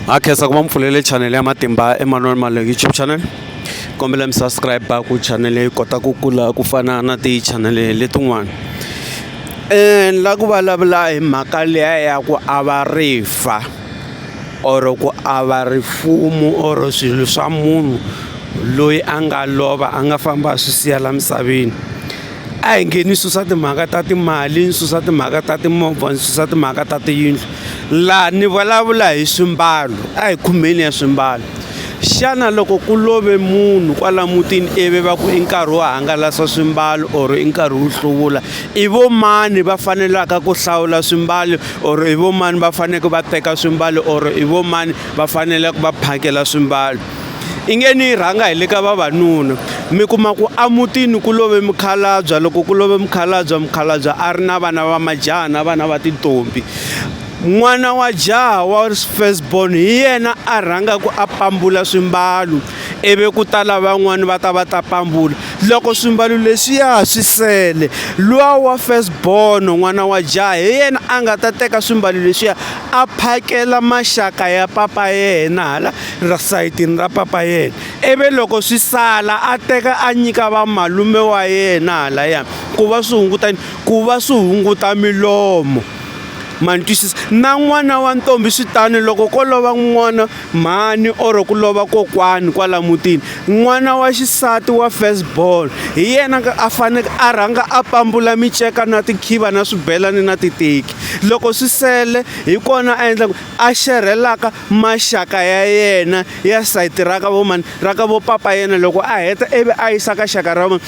ha khensa ku va mi pfulele chanele ya matimba emanuel male youtube channel kombela mi subscribe ku chanele yi kota ku kula ku fana na tichanele letin'wana um la ku vulavula hi mhaka leya ya ku ava rifa or ku ava rifumo or swilo swa munhu loyi a nga lova a nga famba a swi siya la misaveni a hi nge ni susa timhaka ta timali ni susa timhaka ta timovha ni susa timhaka ta tiyindlu Laha ni vulavula hi swimbalo, a hi khumeni ya swimbalo. Xana loko ku love munhu kwala mutini ivi va ku i nkarhi wo hangalasa swimbalo or i nkarhi wo hluvula i vo mani va fanelaka ku hlawula swimbalo or i vo mani va faneleke va teka swimbalo or i vo mani va faneleke va phakela swimbalo I nge ni yi rhanga hi le ka vavanuna mi kuma ku emutini ku love mukhalabye loko ku love mukhalabye mukhalabye a ri na vana va majaha na vana va tintombi n'wana wa jaha wa first born hi yena a rhangaka a pambula swimbalo ivi ku ta lavan'wana va ta va ta pambula loko swimbalo leswiya swi sele luwa wa first born n'wana wa jaha hi yena a nga ta teka swimbalo leswiya a phakela maxaka ya papa yena hala. ra sayitini ra papa yena ivi loko swi sala a teka a nyika vamalume wa yena halaya ku va swi hunguta ku va swi hunguta milomo ma ni twisisa na n'wana wa ntombi swi tani loko ko lova n'wana mhani or ku lova kokwani kwala mutini n'wana wa xisati wa first born hi yena a faneke a rhanga a pambula miceka na tikhiva na swibelani na titeki loko swi sele hi kona a endla ku a xerhelaka maxaka ya yena ya sayiti ra ka vo mani ra ka vo papa yena loko a heta ivi a yisa ka xaka ra vona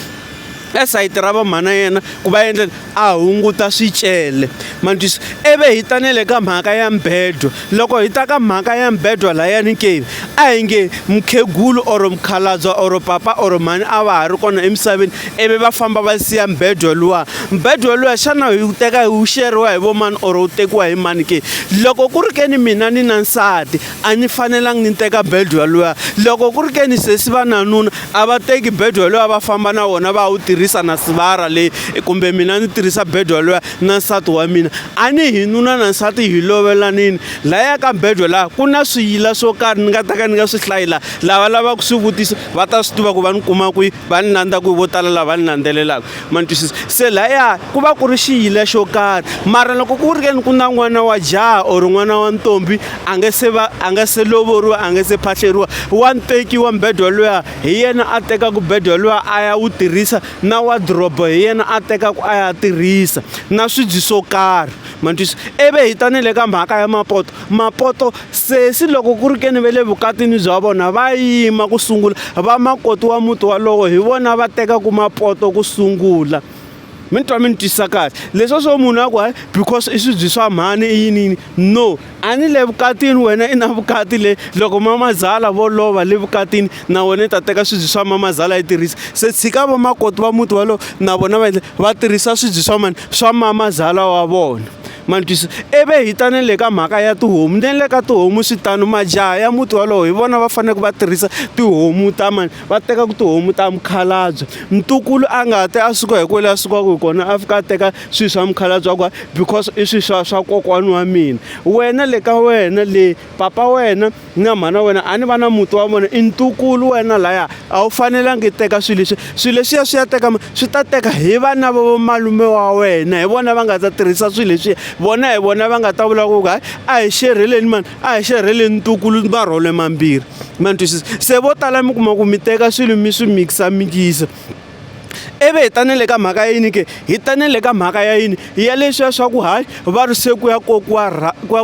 e sayiti ra vamhana yena ku va endla a hunguta swicele manjisi eve hi ta nele ka mhaka ya mbedwa loko hi ta ka mhaka ya mbedwa layani ke a hi nge mukhegulu or mukhalabya or papa or mhani a va ha ri kona emisaveni ivi va famba va siya mbedwa luwa mbedwa luya xana hi wu teka hi wu xeriwa hi vo mani or wu tekiwa hi mani ke loko ku ri ke ni mina ni na nsati a ni fanelangi ni teka bedwa luya loko ku ri ke ni sesi va nanuna a va teki bedwa luya va famba na wona va wu tirhisa na sivara leyi kumbe mina ni tirhisa bedwa luya na nsati wa mina a ni hi nuna na nsati hi lovelanini laya ka bedwa laha ku na swiyila swo karhi ni nga ta ka ni nga swi hlayila lava lavaka swi vutisa va ta swi tiva ku va ni kuma kwihi va ni landza ku vo tala lava ni landzelelaka ma ni twisisa se laya ku va ku ri xiyila xo karhi mara loko ku ri ke ni ku na n'wana wa jaha or n'wana wa ntombi a nge se va a nge se lovoriwa a nge se phahleriwa wa ntekiwa mbedwa luya hi yena a tekaka mbedwa luya a ya wu tirhisa na wadrobo hi yena a tekaka a ya tirhisa na swibyi swo karhi ma ni twisa ivi hi ta ni le ka mhaka ya mapoto mapoto sesi loko ku ri ke ni ve le vukatini bya vona va yima ku sungula vamakoti wa muti walowo hi vona va tekaka mapoto ku sungula mi ni twa mi ni twisa kahle leswiya swo munhu a ku hayi because i swibye swa mhani i yini yini no. A ni le vukatini wena i na vukati le loko mamazala vo lova le vukatini na wena i ta teka swibyi swa mamazala yi tirhisa se tshika vamakoti va muti walowo na vona va va tirhisa swibyi swa mani swa mamazala wa vona ma ni twisa ivi hi ta na le ka mhaka ya tihomu ni le ka tihomu swi tano majaha ya muti wolowo hi vona va faneleke va tirhisa tihomu ta mani. va teka ku tihomu ta mukhalabye mtukulu a nga te a suka hi kwele a sukaka hi kona a fika a teka swilo swa mukhalabye wa ku because i swilo swa swa kokwani wa mina wena le ka wena le papa wena na mhana wena a ni va na muti wa vona i ntukulu wena laya a wu fanelangi i teka swilo leswi swilo leswiya swi ya teka swi ta teka hi vana va vomalume wa wena hi vona va nga ta tirhisa swilo leswiya vona hi vona va nga ta vula ku hayi a hi xerheleni mani a hi xerheleni ntukulu ni marhole mambirhi ma ni twisisa se vo tala mi kuma ku mi teka swilo mi swi mikisa-mikisa ivi hi tane le ka mhaka ya yini ke hi tane le ka mhaka ya yini ya leswiya swa ku hayi va ri se ku ya kokiwa ku ya